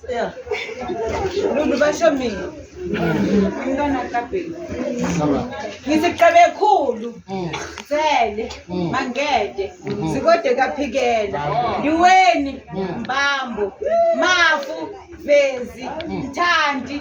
Yeah. Lulu basho mina. Umntwana kabheki. Ngithi qebe khulu. Sele. Mangede. Sikode kaphikela. Ndiweni. Mbambo. Mafu. Vezi. Thandi.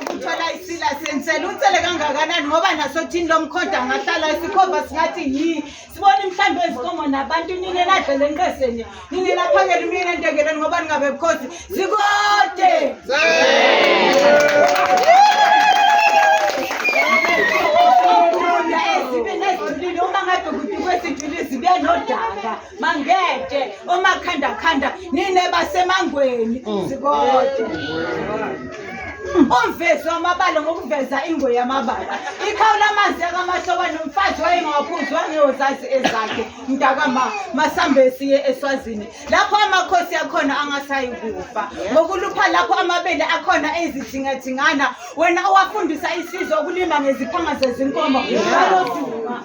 ukuthola isila sensela unsele kangakanani ngoba nasothini lomkhoda ngahlala isikhova singathi yi sibona imhlambi ezikomo nabantu nini eladlela enqeseni nini laphakela umyeni entengeleni ngoba ningabe bukhosi zikode mangede omakhandakhanda nine basemangweni mm. zikode umvezi wamabala ngokuveza ingwe yamabala ikhawu lamanzi yakamahlokwa nomfazi wayengawaphuzi wangeyozazi ezakhe mntakama masambe siye eswazini lapho amakhosi akhona angasayi kufa ngokulupha lapho amabele akhona ezithingathingana wena owafundisa isizwe ukulima ngeziphanga zezinkomo baloduma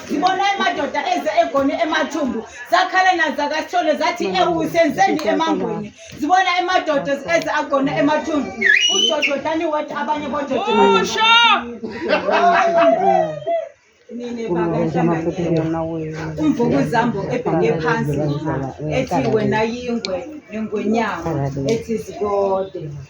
ngibona amadoda eze egone emathumbu zakhala nazakathole zathi ewu senzeni emangweni zibona amadoda eze agone emathumbu ujojo dani wathi abanye bojojo umvukuzambo ebheke phansi ethi wena yingwe nengwenyama ethi zikode